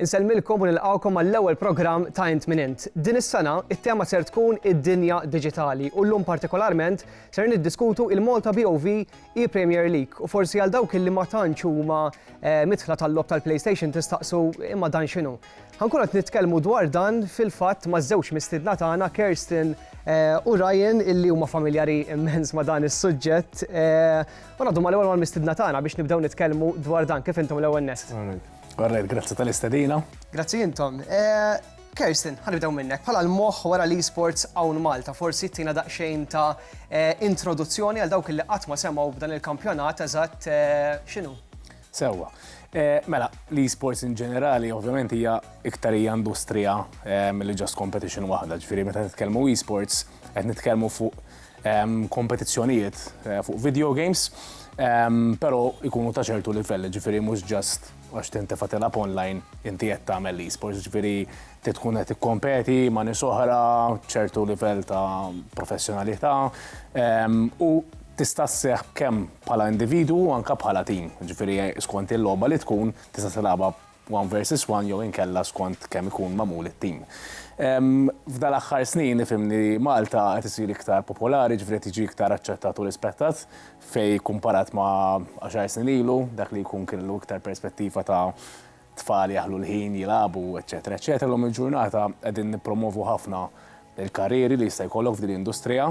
Insellmilkom u nilqgħukom għall-ewwel programm ta' Int Min Int. Din is-sena, it-tema ser tkun id-dinja diġitali u llum partikolarment ser niddiskutu il-Malta BOV ePremier League u forsi għal dawk illi ma tantx huma midħla tal-logħob tal-PlayStation tistaqsu imma dan x'inhu? Ħankunu qed nitkellmu dwar dan fil-fatt maż-żewġ mistiedna tagħna Kerstin u Ryan illi huma familjari immens ma' dan is-suġġett. U ngħaddu mal-ewwel mal-mistidna tagħna biex nibdew nitkellmu dwar dan kif intom l-ewwel nest. Għarrejt, grazzi tal-istedina. Grazzi intom. Eh, Kerstin, ħanibdew minnek, bħala l-moħ wara li sports hawn Malta, forsi tina daqsxejn ta' eh, introduzzjoni għal dawk li qatt ma semgħu b'dan il-kampjonat eżatt eh, x'inhu? Sewwa. Eh, mela, l-esports in ġenerali, ovvjament hija iktar hija industrija mill-li ġast competition waħda, ġifieri meta nitkellmu esports qed nitkellmu fuq kompetizzjonijiet fuq video games, però jkunu ta' ċertu livell, ġifieri mhux ġast għax tintefa' tilgħab online inti qed tagħmel l-esports, ġifieri trid tkun qed tikkompeti ma' nies oħra, ċertu livell ta' professjonalità u tista' sseħħ kemm bħala individwu anke bħala tim, ġifieri skont il-logħba li tkun tista' tilgħabha one versus one jew inkella skont kemm ikun magħmul it-tim. F'dan l-aħħar snin nifhem li Malta qed isir iktar popolari, ġifieri qed jiġi iktar aċċettat u rispettat fejn kumparat ma' għaxar snin ilu, dak li jkun kellu iktar perspettiva ta' tfal jaħlu l-ħin jilagħbu, eċċetera eċċetera. Llum il-ġurnata qegħdin nippromwovu ħafna l-karrieri li jista' jkollok f'din l-industrija.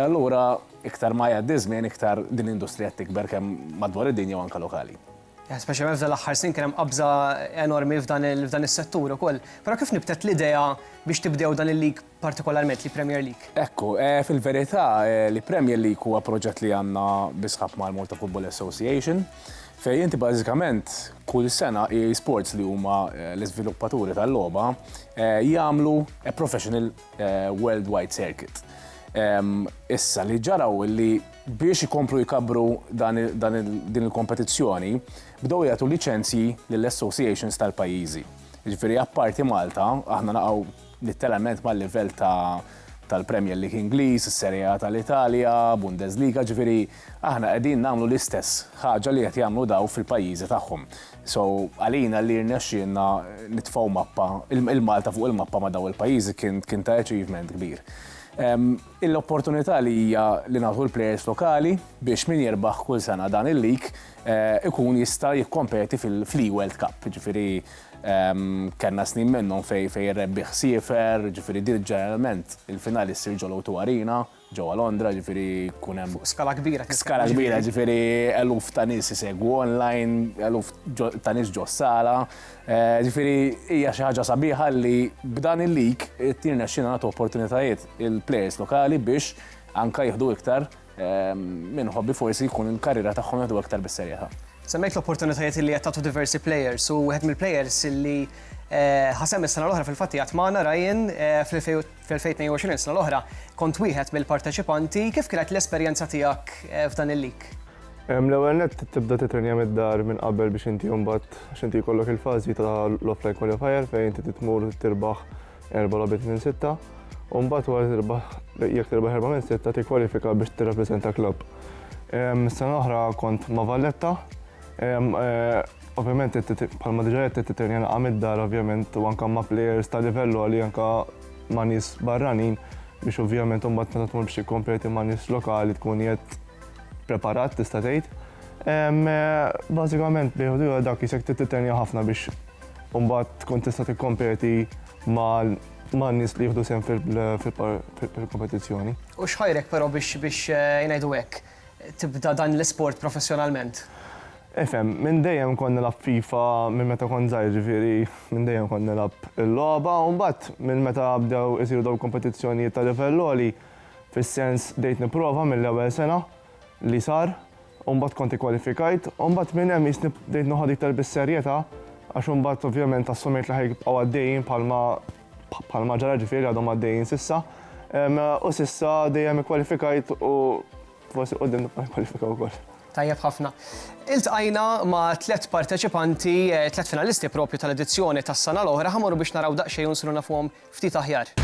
Allura iktar ma jgħaddi ż-żmien iktar din l-industrija qed tikber kemm madwar id-dinja u anke lokali. Speċjalment f'dan l-aħħar snin kien hemm qabża enormi f'dan is-settur ukoll. Però kif nibtet l-idea biex tibdew dan il-lig partikolarment, l-Premier League? Ekku, fil-verità, l-Premier League huwa proġett li għandna bi sħab mal-Malta Football Association, fejn inti bażikament kull sena EA Sports li huma l-iżviluppaturi tal-logħba jagħmlu professional worldwide circuit. Issa li ġara hu li Biex ikomplu jkabbru din il-kompetizzjoni, bdew jagħtu liċenzji lill-associations tal-pajjiżi. Jiġifieri apparti Malta, aħna naqgħu litteralment mal-livell ta' tal-Premier League Ingliż, is-Serie A tal-Italja, Bundesliga, jiġifieri aħna qegħdin nagħmlu l-istess ħaġa li qed jagħmlu dawn fil-pajjiżi tagħhom. So għalina li rnexxielna nitfgħu mappa, il-Malta fuq il-mappa ma' dawn il-pajjiżi kien ta' achievement kbir. Il-opportunità li hija li nagħtu l-plejers lokali biex min jirbaħ kull sena dan il-lig ikun jista' jikkompeti fl-eWorld Cup. Jiġifieri kellna snin minnhom fejn fejn ir-rebbieħ siefer, jiġifieri din ġeneralment il-finali ssir ġol-O2 Arena, ġewwa Londra, jiġifieri jkun hemm. Fuq skala kbira. Skala kbira, jiġifieri eluf ta' nies isegwu online, eluf ta' nies ġo s-sala. Jiġifieri hija xi ħaġa sabiħa li b'dan il-lig qed jirnexxina nagħtu opportunitajiet il-plejers lokali biex anke jieħdu iktar minn ħobbi forsi jkun il-karriera tagħhom jieħdu iktar bis-serjetà. Semmejt l-opportunitajiet li qed tagħtu diversi plejers u wieħed mill-plejers li Eh, ħasem is-sena l-oħra fil-fatti għat maħna Ryan eh, fl-2022 sena l-oħra kont wieħed mill-parteċipanti kif kienet l-esperjenza tiegħek eh, f'dan il-lik? L-ewwel net tibda titrenja mid-dar minn qabel biex inti mbagħad x'inti jkollok il-fażi ta' l-offline qualifier fejn inti titmur tirbaħ erba' logħbiet minn sitta, u mbagħad wara tirbaħ jekk tirbaħ erba' minn sitta tikkwalifika biex tirrappreżenta klabb. Sena l-oħra kont ma' Valletta, ovvjament bħalma diġà qed titrenja naqgħa mid-dar ovvjament u anke ma' plejers ta' livell għoli anke ma' nies barranin biex ovvjament imbagħad meta tmur biex tikkompeti ma' nies lokali tkun qiegħed preparat tista' tgħid. Bażikament bejn u ieħor dak isek trid titrenja ħafna biex Mbagħad tkun tista' tikkompeti ma' nies li jieħdu sehem fil-kompetizzjoni. U xħajrek però biex biex eh, ngħidu hekk tibda dan l-isport professjonalment? Efem, minn dejjem kon nilab FIFA minn meta kon zaħir ġifiri, minn dejjem kon nilab il-loba, un bat minn meta bdew isiru daw kompetizzjonijiet ta' livelloli, fis-sens dejt niprofa mill-ewwel sena li sar, u mbagħad kont ikkwalifikajt u mbagħad minn hemm qisni bdejt noħodha iktar bis-serjetà għax imbagħad ovvjament assumejt li ħajbqgħu għaddejjin bħalma bħalma ġara ġifieri għadhom għaddejjin sissa. U sissa dejjem ikkwalifikajt u forsi qudiem nibqa' nikkwalifika wkoll. Tajjeb ħafna. Iltqajna ma' tliet parteċipanti, eh, tliet finalisti propju tal-edizzjoni tas-sena l-oħra, ħamorru biex naraw daqsxejn u nsiru nafuhom ftit aħjar.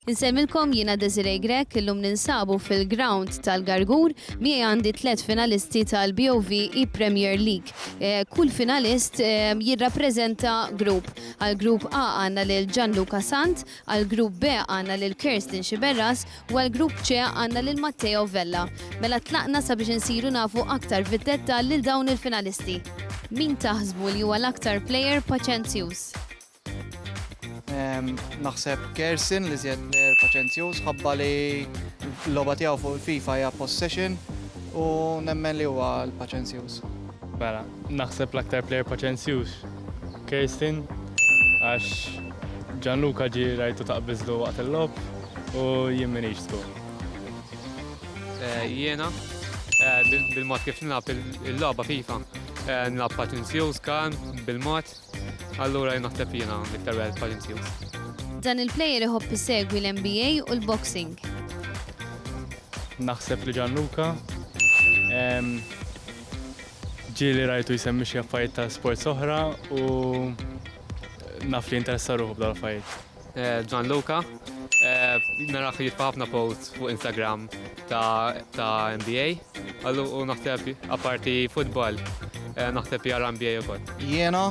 Insemmilkom jiena Desiree Grech, illum ninsabu fil-ground tal-Gargur, miegħi għandi tliet finalisti tal-BOV e-Premier League. Eh, kull finalist eh, jirrappreżenta grupp. Għal grupp A għandna lil Gianluca Sant, għal grupp B għandna lil Kerstin Xiberras u għal grupp C għandna lil Matteo Vella. Mela tlaqna sabiex insiru nafu aktar fid-detta lil dawn il-finalisti. Min taħsbu li huwa l-aktar player paċenzjuż? Naħseb Gerson li zjed player paċenzjuż ħabba li l-loba tiegħu fuq il-FIFA hija possession u nemmen li huwa l-paċenzjuż. Mela, naħseb l-aktar player paċenzjuż Gerson għax Gianluca ġi rajtu taqbizlu waqt il-lob u jien minix skur. Eh, jiena, eh, bil-mod kif nilab il-loba FIFA, eh, nilab paċenzjuż kan bil-mod Allura jien naħseb jiena l-iktar wieħed bħal imsiju. Dan il-plejer iħobb isegwi l-NBA u l-boxing. Naħseb li Gianluca. Ġieli rajtu jsemmi xi affarijiet ta' sports oħra u naf li interessa ruħu b'dal affarijiet. Eh, Gianluca, eh, narax mela jitfa ħafna post fuq Instagram ta', ta NBA, għallu u naħseb apparti futbol, eh, naħseb jara NBA u kol. Jena,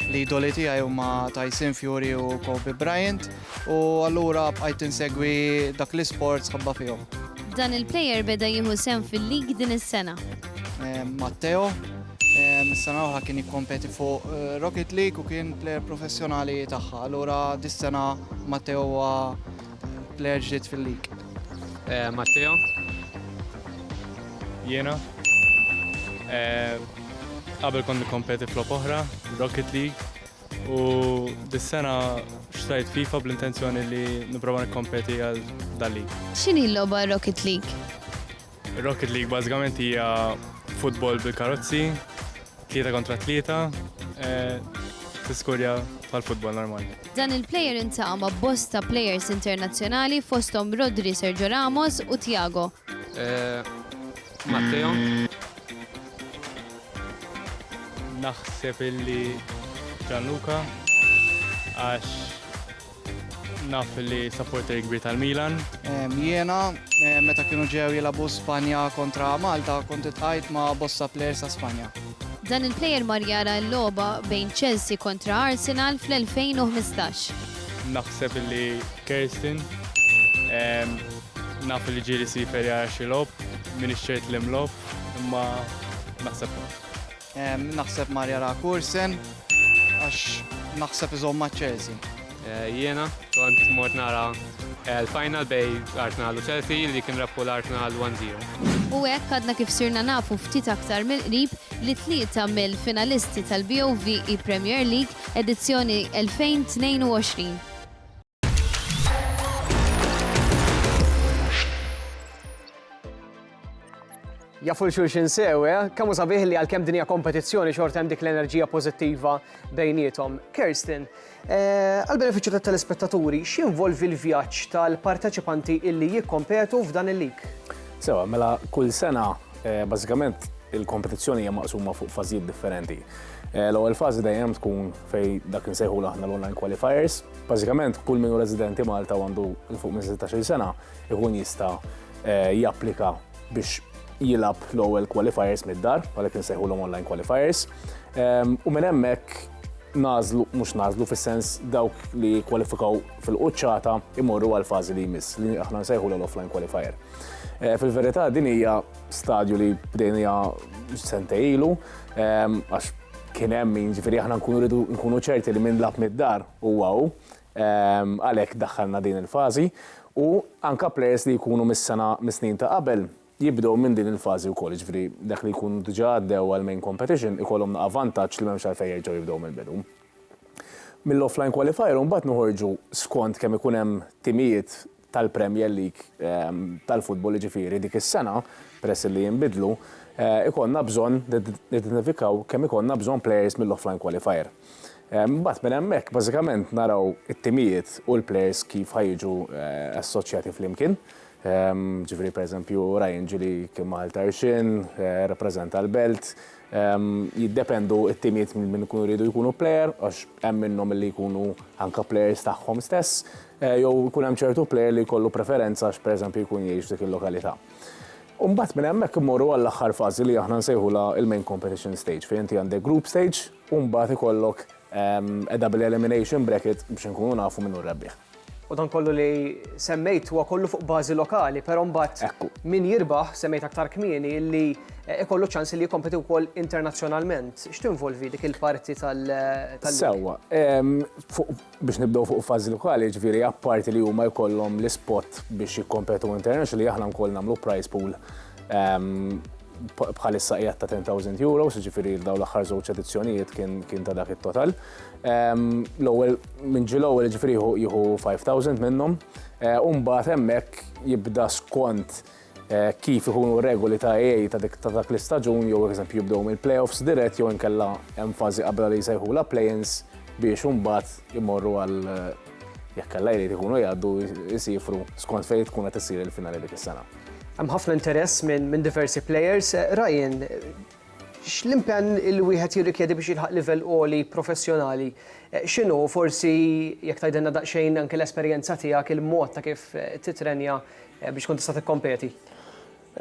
li doli tijaj u ma Tyson Fury u Kobe Bryant, u allura bħajt insegwi dak li sport sħabba fihom. Dan il-player beda jieħu sem fil-lig din is-sena. Matteo, Mis-sena oħra kien jikkompeti fuq eh, Rocket League u kien plejer professjonali tagħha. Allura dis-sena Matteo huwa eh, plejer ġdid fil-lig. Eh, Matteo? Jiena. Qabel kont nikkompeti flop oħra, Rocket League, u dis-sena xtajt FIFA bl-intenzjoni li nipprova nikkompeti għal dal-lig. X'inhi l-logħba Rocket League? Rocket League bażikament hija futbol bil-karozzi, tlieta kontra tlieta, eh, tiskurja tal-futbol normali. Dan il-player intaqa' ma' bosta players internazzjonali fosthom Rodri Sergio Ramos u Tiago. Eh, Matteo. Naħseb illi Gianluca għax Naf li supporter kbir tal-Milan. Jiena, meta kienu ġew jilabu Spanja kontra Malta, kont itħajt ma' bosta players ta' Spanja. Dan il-player mar jara l-logħba bejn Chelsea kontra Arsenal fl-2015. Naħseb li Kerstin, naf li ġieli sifer jara xi logħob, minix ċert li mlogħob, imma naħseb. Naħseb Marja Ra Kursen, għax naħseb iżomm ma' Chelsea. Eh, jiena, kont mort nara eh, l-final bej Arsenal u Chelsea li kien rabbu l-Arsenal 1-0. U hekk għadna kif sirna nafu ftit aktar mill-qrib li tlieta mill-finalisti tal-BOVE Premier League edizzjoni 2022. jafu l-xulxin sew, eh? Kamu sabiħ li għal-kem dinja kompetizzjoni xorta hemm dik l-enerġija pozittiva bejnietom. Kirsten, eh, għal-beneficju ta' telespettaturi, x'involvi l-vjaġġ tal-parteċipanti illi jikkompetu f'dan il-lik? Sewa, mela kull sena, eh, bażikament il-kompetizzjoni hija maqsuma fuq fażijiet differenti. L-ewwel fażi dejjem tkun fej dak insejħu aħna l-online qualifiers, Bażikament kull min hu residenti Malta u għandu il fuq minn 16-il sena ikun jista' eh, japplika biex jilab l-ewwel qualifiers mid-dar, għalhekk insejħulhom online qualifiers. Ehm, u minn hemmhekk nażlu, mhux nażlu fis-sens dawk li kwalifikaw fil-quċċata imorru għal fażi li jmiss li aħna nsejħu l-offline qualifier. Eh, fil-verità din hija stadju li bdejnija sentej ilu, ehm, għax kien hemm min ġifieri aħna nkunu rridu nkunu ċerti li minn lab mid-dar u għaw, ehm, għalhekk daħħalna din il-fażi u anka plejers li jkunu mis-sena mis-snin ta' qabel jibdew minn din il-fażi wkoll, ġifieri dak li jkun diġà għaddew għal main competition ikollhom naqa' vantaġġ li m'hemmx għalfejn jerġgħu jibdew mill-bidu. Mill-offline qualifier mbagħad noħorġu skont kemm ikun hemm timijiet tal-Premier League tal-futbol jiġifieri dik is-sena, peress illi jinbidlu, ikollna bżonn nidentifikaw kemm ikollna bżonn players mill-offline qualifier. Imbagħad minn hemmhekk bażikament naraw it-timijiet u l-players kif ħa jiġu assoċjati flimkien. Jiġifieri pereżempju Ryan Gilly kien ma' Għal Tarxien, rappreżenta l-Belt, Jiddependu t-timiet minn min ikunu jridu jkunu player għax hemm minnhom li jkunu anke players tagħhom stess jew ikun hemm ċertu player li jkollu preferenza għax pereżempju jkun jgħix f'dik il-lokalità. U mbagħad minn hemmhekk immorru għall-aħħar fażi li aħna nsejħulha l-main competition stage fejn inti għandek group stage u mbagħad ikollok double elimination bracket biex inkunu nafu min hu r-rebbieħ. U dan kollu li semmejt huwa kollu fuq bażi lokali, però mbagħad Ekku. min jirbaħ semmejt aktar kmieni li eh, ikollu ċans li jikkompeti wkoll internazzjonalment. X'tinvolvi dik il-parti tal tal- Sewwa, em, fuq- biex nibdew fuq fażi lokali, ġifieri apparti li huma jkollhom l-ispot biex jikkompetu international li aħna nkoll nagħmlu prize pool em, bħ- bħalissa qiegħed ta' 10,000 euro, ġifieri dawn l-aħħar żewġ edizzjonijiet kien kien ta' dak it-total. L-ewwel minn ġi l-ewwel ġifieri jieħu 5000 minnhom. Eh, u mbagħad hemmhekk jibda skont eh, kif ikunu regoli ta' EA ta' dik ta' dak l-istaġun jew eżempju jibdew mill-playoffs dirett jew inkella hemm fażi qabel li jsejħula play-ins biex imbagħad imorru għal eh, jekk kellha jrid ikunu jgħaddu jsifru skont fejn tkun qed issir il-finali dik is-sena. Hemm ħafna interess minn diversi players. Ryan, X'l-impenn li wieħed jirrikjedi biex jilħaq livell għoli professjonali x'inhu? U forsi jekk tgħidilna daqsxejn anke l-esperjenza tiegħek, il-mod ta' kif titrenja biex tkun tista' tikkompeti.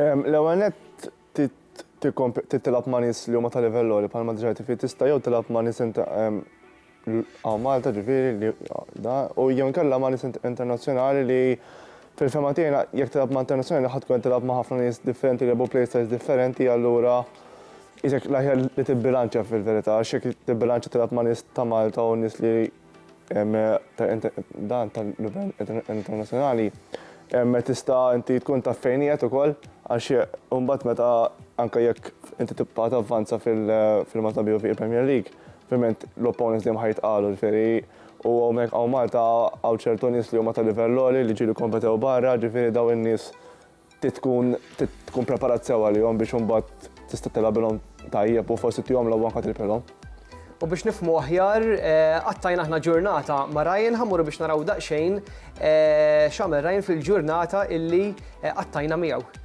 L-ewwel nett trid tilgħab ma' nies li huma ta' livell għoli bħalma diġà għidt inti. Tista' jew tilgħab ma' nies Hawn Malta ġifieri li da, u jew inkella ma' nies internazzjonali li fil-fehma tiegħi jekk tilgħab ma' internazzjonali ħadd tkun qed tilgħab ma' ħafna nies differenti li jilgħbu playstyles differenti allura qisek l-aħjar li tibbilanċja fil-verità għax jekk tibbilanċja tilgħab ma' nies ta' Malta u nies li da ta' livell internazzjonali tista' inti tkun taf fejn qiegħed ukoll għax imbagħad meta anke jekk inti tibqa' tavvanza fil-Malta BOV il-Premier League Ovvjament l-opponents dejjem ħa jitqalu, ġifieri u hawnhekk hawn Malta hawn ċertu nies li huma ta' livell għoli li ġieli kompetew barra, ġifieri dawn in-nies trid tkun trid tkun preparat sew għalihom biex imbagħad tista' tilgħabilhom tajjeb u forsi tihom logħba anke tirpilhom. U biex nifhmu aħjar, qattajna aħna ġurnata ma' Ryan, ħa mmorru biex naraw daqsxejn x'għamel Ryan fil-ġurnata illi qattajna miegħu.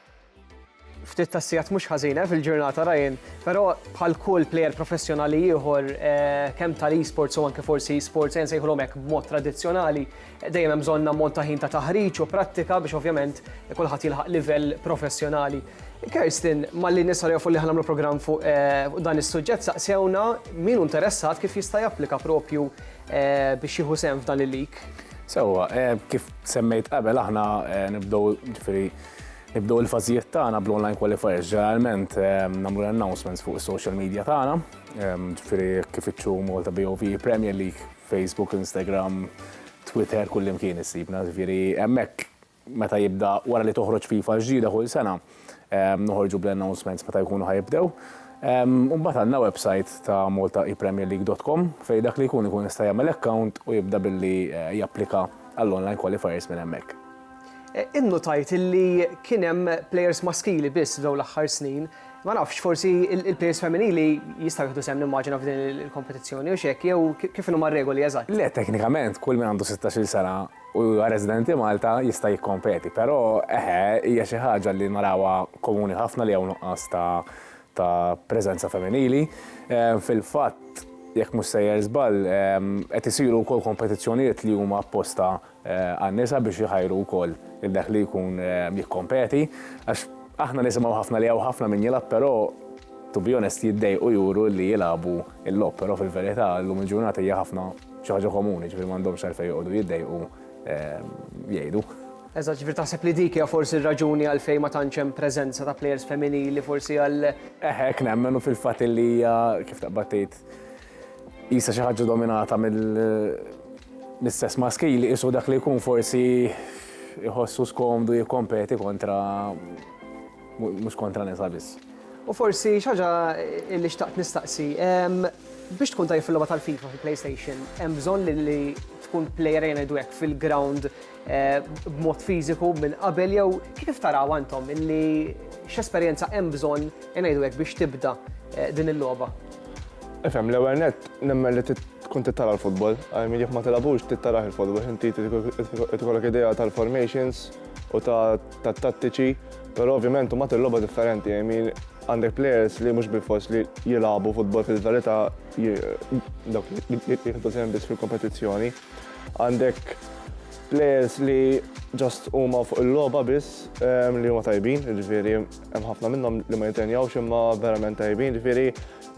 Ftit tas-sigħat mhux ħażin eh, fil-ġurnata Ryan, però bħal kull plejer professjonali ieħor eh, kemm tal-esports u anke forsi esports jen sejħulhom hekk b'mod tradizzjonali, eh, dejjem hemm bżonn ammont ta' ħin ta' taħriġ u prattika biex ovvjament kulħadd jilħaq livell professjonali. Kerstin, malli nisa li li ħanamlu program fuq eh, dan is-suġġett saqsewna min hu interessat kif jista' japplika propju eh, biex jieħu sem f'dan il-lik. Sewa, eh, kif semmejt qabel aħna nibdew ġifieri Nibdew il-fażijiet tagħna bl-online qualifiers. Ġeneralment nagħmlu l-announcements fuq is-social media tagħna, ġifieri kif iċċu Malta BOV, Premier League, Facebook, Instagram, Twitter, kullimkien issibna. Ġifieri hemmhekk meta jibda wara li toħroġ FIFA l-ġdida kull sena, noħorġu bl-announcements meta jkunu ħa jibdew. U mbagħad għandna website ta' maltaepremierleague.com fejn dak li jkun ikun jista' jagħmel account u jibda billi japplika għall-online qualifiers minn hemmhekk. Innutajt illi kien hemm plejers maskili biss f'dawn l-aħħar snin. Ma nafx, forsi il-plejers femminili jistgħu jieħdu sehem nimmaġina f'din il-kompetizzjoni, hux hekk, jew kif inhuma r-regoli eżatt? Le, teknikament kull min għandu sittax-il sena u huwa residenti Malta jista' jikkompeti, però eħe, hija xi ħaġa li narawha komuni ħafna li hawn nuqqas ta' preżenza femminili. Fil-fatt, jekk mhux sejjer żball, qed isiru wkoll kompetizzjonijiet li huma apposta għan-nisa biex iħajru wkoll lil dak li jkun jikkompeti għax aħna nisimgħu ħafna li hawn ħafna min jilgħab però to be honest jiddejqu juru li jilagħbu l-logħob però fil-verità llum il-ġurnata hija ħafna xi ħaġa komuni ġifieri m'għandhomx għalfejn joqogħdu jiddejqu jgħidu. Eżatt, ġifieri taħseb li dik hija forsi r-raġuni għalfejn ma tantx hemm preżenza ta' plejers femminili forsi għal. Eħe hekk nemmen u fil-fatt illi hija kif taqbad tgħid Qisha xi ħaġa dominata mill-istess maskili qisu dak li jkun forsi jħossu skomdu jikkompeti kontra mhux kontra nisa biss. U forsi xaġa li xtaqt nistaqsi, biex tkun tajjeb fil-logħba tal-FIFA fil-PlayStation, hemm bżonn li tkun plejer ejja ngħidu hekk fil-ground b'mod fiżiku minn qabel jew kif tarawha intom illi x'esperjenza hemm bżonn ejja ngħidu hekk biex tibda din il-logħba? Ifhem, l-ewwel nett nemmen li trid tkun trid tara l-futbol. I mean jekk ma tilgħabux trid tarah il-futbol, inti trid ikollok idea tal-formations u tat-tattiċi, però ovvjament imbagħad il-logħba differenti. I mean għandek players li mhux bilfors li jilagħbu futbol fil-verità dawk li jieħdu sehem biss fil-kompetizzjoni. Għandek players li just huma fuq il-logħba biss li huma tajbin, jiġifieri Hemm ħafna minnhom li ma jitrenjawx imma verament tajbin, ġifieri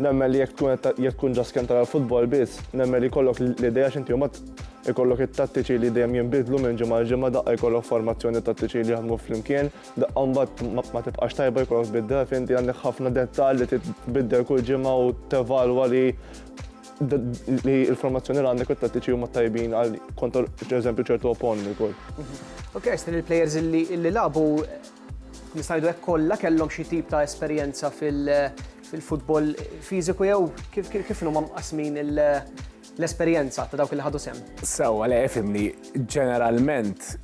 nemmen li jekk tkun ġas kemm tara l-futbol biss, nemmen li jkollok l-idea x'inti mbagħad ikollok it-tattiċi li dejjem jinbidlu minn ġimgħa għal ġimgħa daqqa jkollok formazzjoni tattiċi li jaħdmu flimkien, daqqa mbagħad ma tibqax tajba jkollok tbiddel, fimti għandek ħafna dettall li tbiddel kull ġimgħa u tevalwa li li l-formazzjoni li għandek u t-tattiċi huma tajbin għal kontor, per eżempju, ċertu opponent ukoll. Mhm. Ok, għax il-players li labu Nista' ngħidu hekk kollha kellhom xi tip ta' esperjenza fil-futbol fiżiku jew kif huma mqassmin l-esperjenza ta' dawk li ħadu sehem? Sewwa le fimni, ġeneralment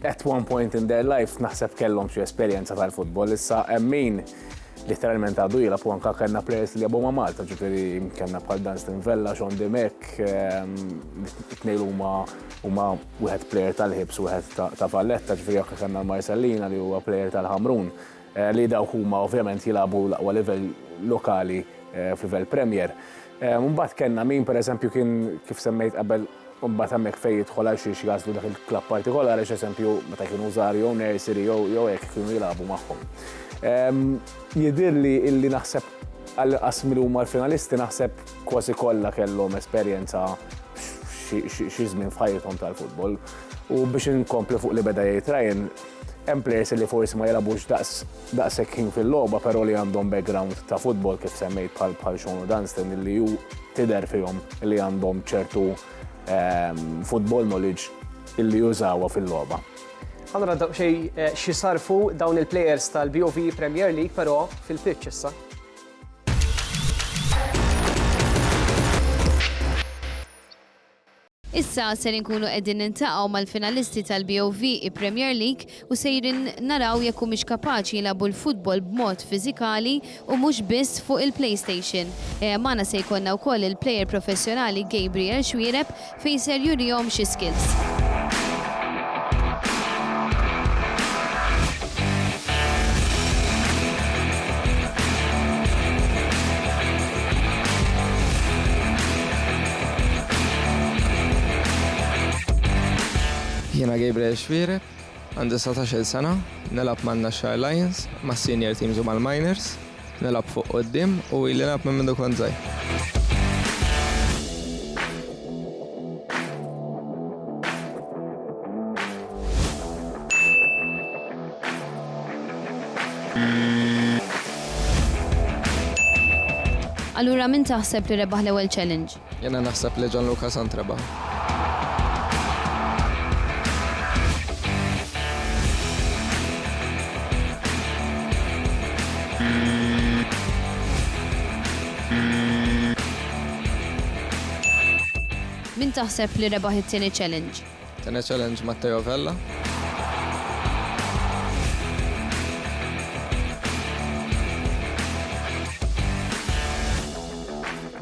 at one point in their lives naħseb kellhom xi esperjenza tal-futbol. Issa hemm min literalment għadu jilha u anka kellna players li jabu ma' Malta, ġifieri kellna bħal Dunstan Vella, Sean Dimek, ehm, tnejn huma huma wieħed plejer tal-Hibs u wieħed ta' Valletta, ġifieri anke kellna l-Marsellina li huwa plejer tal-Ħamrun, li dawk huma ovvjament jilagħbu l-aqwa livell lokali f'livell Premier. Mbagħad kellna min pereżempju kien kif semmejt qabel mbagħad hemmhekk fejn jidħol għal xiex jagħżlu dak il-klabb partikolari għax eżempju meta kienu żgħar jew nursery jew hekk kienu jilagħbu magħhom. Jidhirli illi naħseb għall-inqas min huma l-finalisti naħseb Kważi kollha kellhom esperjenza xi żmien f'ħajjithom tal-futbol. U biex inkompli fuq li beda jgħid Ryan, hemm players li forsi ma jilagħbux daqshekk ħin fil-logħba però li għandhom background ta' futbol kif semmejt bħal bħal Sean Dunstan li hu tidher fihom li għandhom ċertu ehm, football knowledge illi jużawha fil-logħba. Allora xi sarfu dawn il-players tal-BOV Premier League però fil-pitch issa. Issa ser inkunu qegħdin nintaqgħu mal-finalisti tal-BOV Premier League u sejrin naraw jekk humiex kapaċi jilagħbu l-futbol b'mod fiżikali u mhux biss fuq il-PlayStation. Magħna se jkollna wkoll il-plejer professjonali Gabriel Xuereb fejn ser jurihom xi skills. Jiena Gabriel Xwiereb, Għandi satax-il sena, nilgħab man-Naxxar Lions, mas-senior teams u mal-minors. Nilgħab fuq quddiem u ili nilgħab minn mindu kont żgħir. Allura min taħseb li rebaħ l-ewwel challenge? Jiena naħseb li Gianluca Sant rebaħ. Min taħseb li rebaħ it-tieni challenge? Tieni challenge Matteo Vella.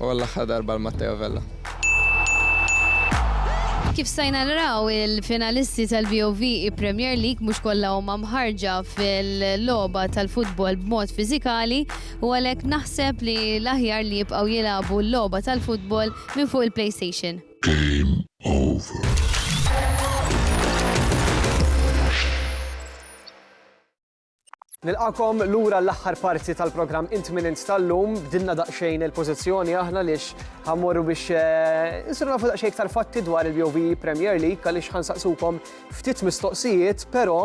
u għall-aħħar darba għal Matteo Vella. Kif stajna naraw, il-finalisti tal-BOV Premier League mhux kollha huma mħarrġa fil-logħba tal-futbol b'mod fiżikali u għalhekk naħseb li l-aħjar li jibqgħu jilagħbu l-logħba tal-futbol minn fuq il-PlayStation. Game over. Nilqakom lura l-aħħar parti tal-programm Intminent tal-lum, bdilna daqsxejn il-pożizzjoni aħna lix ħammorru biex eh, insiru nafu daqsxejn iktar fatti dwar il-BOV Premier League għaliex ħansaqsukom ftit mistoqsijiet, però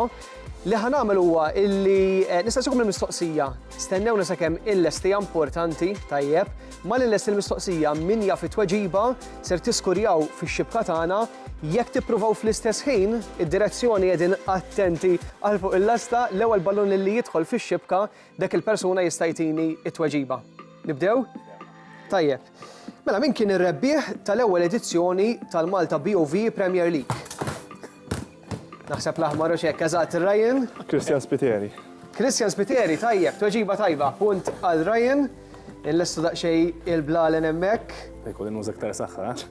li ħanamel huwa illi eh, nistaqsikom il-mistoqsija stennew sakemm il-lesti importanti tajjeb ma l-lesti l-mistoqsija min jaf it-tweġiba ser tiskurjaw fix-xibka tagħna Jekk tippruvaw fl-istess ħin, id-direzzjoni qegħdin attenti għal fuq il-lasta, l-ewwel ballun lilli jidħol fix-xibka, dak il-persuna jista' jtini t-tweġiba. Nibdew? Tajjeb. Mela min kien ir-rebbieħ tal-ewwel edizzjoni tal-Malta BOV Premier League? Naħseb l-aħmar u xekk, eżatt, Ryan? Christian Spiteri. Christian Spiteri, tajjeb, tweġiba tajba, punt għal Ryan, il-lestu daqxej il-blalen emmek. Ekku, l-innuża ktar saħħa, eh?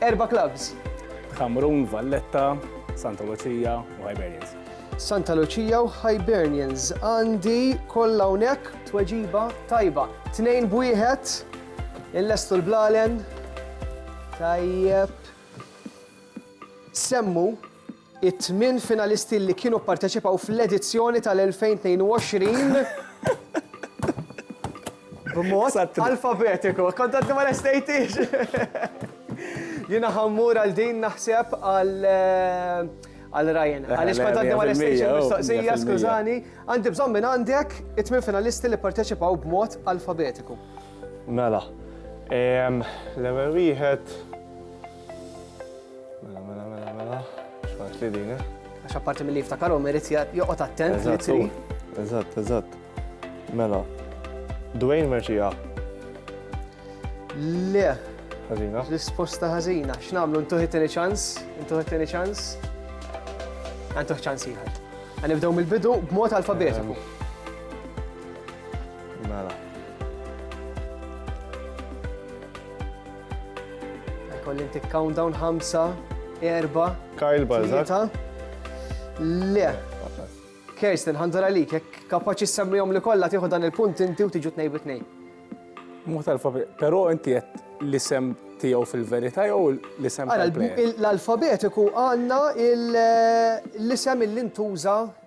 Erba' clubs. Ħamrun, Valletta, Santa Lucia u Hibernians. Santa Lucia u Hibernians. Għandi kollha hawnhekk tweġiba tajba. Tnejn b'wieħed, illestu l-blalen. Tajjeb. Semmu It-tmien finalisti li kienu pparteċipaw fl-edizzjoni tal-2022 b'mod alfabetiku. Kont għaddi ma lestejtix! Jiena ħammur għal din naħseb għal għal Ryan. Għaliex kont għaddi ma lestejtix il-mistoqsija, skużani. Għandi bżonn minn għandek it-tmien finalisti li pparteċipaw b'mod alfabetiku. Mela, l-ewwel wieħed Mela, mela, mela, mela. Xfat li din, eh? Għax apparti mill-li jiftakarhom irid joqgħod attent li tri. Eżatt, eżatt. Mela. Dwayne Merċija. Le. Ħażina. Risposta ħażina. X'nagħmlu ntuħi tieni ċans? Ntuħi tieni ċans? Għantuħ ċans ieħor. Għanibdew mill-bidu b'mod alfabetiku. Mela. Kolli ntik countdown ħamsa, erba. Kyle Balzak. Le. Kirsten, ħanżar għalik, jek kapaċi semmijom li kolla tiħu dan il-punt inti u tiġu t-nej bit-nej. Mux tal-alfabet, pero inti jett li sem tijaw fil-verita jew li sem tal-alfabetiku għanna l-isem il-lintuża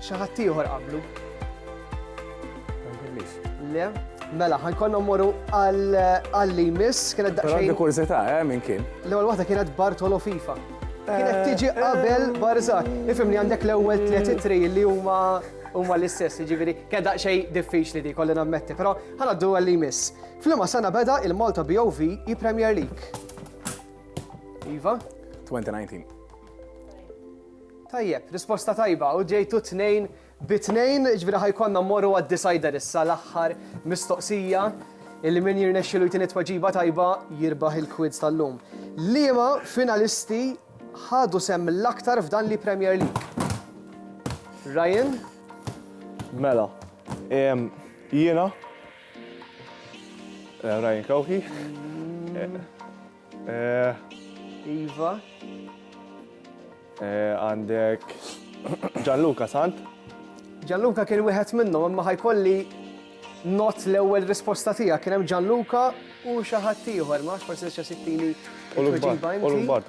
Xi ħadd ieħor qablu? Le, mela, ħajkonna mmorru għall-li miss, kienet daqsxejn. Għandi kurzita, eh, minn kien. L-ewwel waħda kienet Bartolo FIFA. Kienet eh, tiġi eh. qabel Barzak. Ifim li għandek l-ewwel tliet itri li huma huma l-istess, ġiviri, kien daqsxejn diffiċli di kolli nammetti, però ħanaddu għall-li miss. Flima sana beda il-Malta BOV i Premier League. Iva? 2019. Tajjeb, risposta tajba u ġejtu tnejn bi tnejn, jiġifieri ħa jkollna mmorru għad-decider issa l-aħħar mistoqsija illi min jirnexxielu jtini tweġiba tajba jirbaħ il-quiz tal-lum. Liema finalisti ħadu sehem l-aktar f'dan li Premier League? Ryan? Mela, ehm, jiena eh, Ryan Kawhi. Eh, Eh. Iva. Eh, għandek Gianluca Sant. Gianluca kien wieħed minnhom imma ħajkolli not l-ewwel risposta tiegħek kien hemm Gianluca u xi ħadd ieħor ma forsi se sittini. U l-bar, u l-bar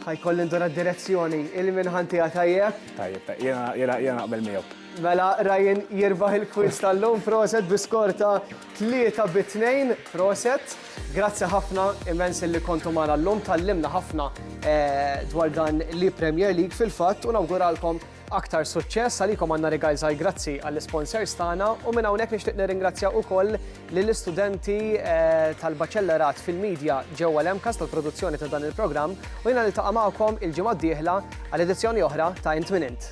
Ħa jkolli ndura d-direzzjoni, il-minħan tiegħi tajjeb. Tajjeb, jiena jiena naqbel miegħu. Mela Ryan jirbaħ il-quiz tal-lum proset bi skor ta' 3 bi 2 proset. Grazzi ħafna immens li kontu magħna llum tallimna ħafna eh, dwar dan li Premier League fil-fatt u nawguralkom Aktar suċċess għalikom għandna rigal żgħir grazzi għall-isponsors tagħna u minn hawnhekk nixtieq nirringrazzja wkoll lill-istudenti eh, tal-Baċellerat fil-Media ġewwa l-MCAS tal-produzzjoni ta' dan il-programm u jiena niltaqa' magħkom il-ġimgħa d-dieħla għal edizzjoni oħra ta' Int Minn Int.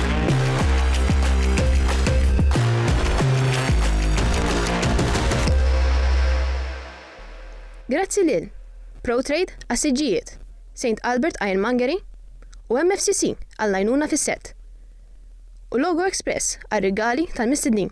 Grazzi lil Protrade għas-siġġijiet, St Albert Ironmongery u MFCC għall-għajnuna fis-sett, u Logo Express għar-rigali tal-mistednin.